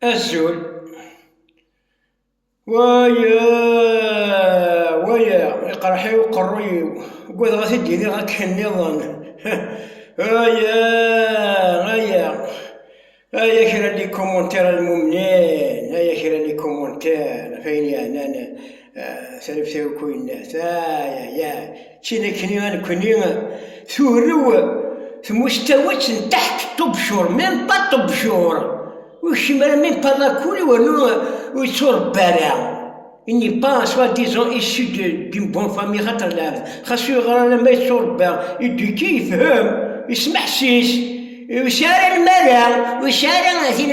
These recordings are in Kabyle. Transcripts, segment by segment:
Azul. Waya, waya, iqerḥ-iw qerru-iw, ugadeɣ ad t-id-iniɣ akken nniḍen. Waya, aya, aya kra n likumuntir a lmumnin, aya kra n likumuntir ɣef ayen yeɛnan tareftawku yenna-t ayaya ččin akkenni a nekkni turew tmuctawet n taḥt ṭubcur même pas ṭubcur ur kcim ara même pas lakul wernu ur yetturebba ara il n'est pas soit disant issu d'une bonne famille xaṭer lɛebd xas ur yeɣra ara ma yetturebba éduqué yefhem yesmeḥsis ur yesɛi ara lmara ur yesɛi ara tin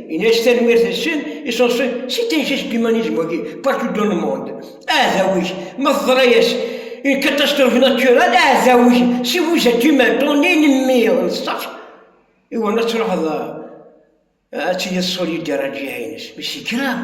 Yenna-as tanemmirt n sin iṣenṣen si taysa-s n yimanizmu-agi, partout dans le monde. Aɛdaw-ik, ma teḍra-as une catastrophe naturelle, aɛdaw-ik, si vous êtes humain, ton ennemi, ṣṣeḥ, iwan ad truḥeḍ ad tiliḍ solidaire ed lǧiha-ines, mais c'est grave.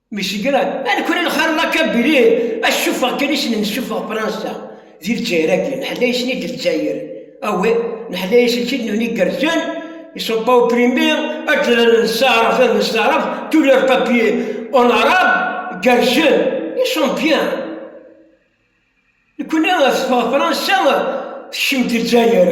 Michigan, a nekra lxir la kabili, a cufeɣ kan isnen cufeɣ Fransa, di Lezzayer-agi, neḥla isni d Lezzayer, awi, neḥla iselkid nuni igerzen, ils sont pas opprimés, ad d-lalen nessaɛraf ad nessaɛraf, tous leurs papiers en arabe, gerzen, ils sont bien. Nekni teffeɣ Fransa, tekcem-d Lezzayer.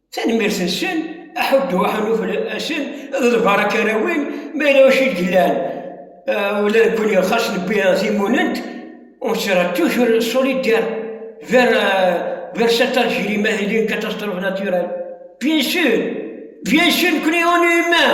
Tanemmirt-nsen, aḥuddu, aḥanuf, asen d lbarak ara win, ma yella wacu i d-yellan, ula nekkni xas newwi timunent, on sera toujours solidaire vers, vers cette Algérie ma tili une catastrophe naturelle. Bien sûr, bien sûr, nekkni on est humain.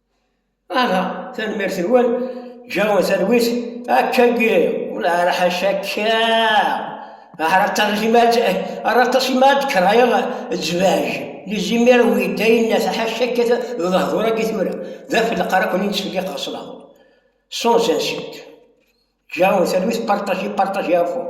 Aha, tanemmirt-nwen, ǧǧan talwit akka n yiri, ula ara ḥaca akka, ara aṭas imad, ara aṭas imad krayeɣ zzbaj, lizimir n uyedda yenna taḥaca akka d lehdur akka tura, d afelleq ara kun yettfelliqeɣ s lehdur, sans insulte. Ǧǧan talwit, partager, partager à fond.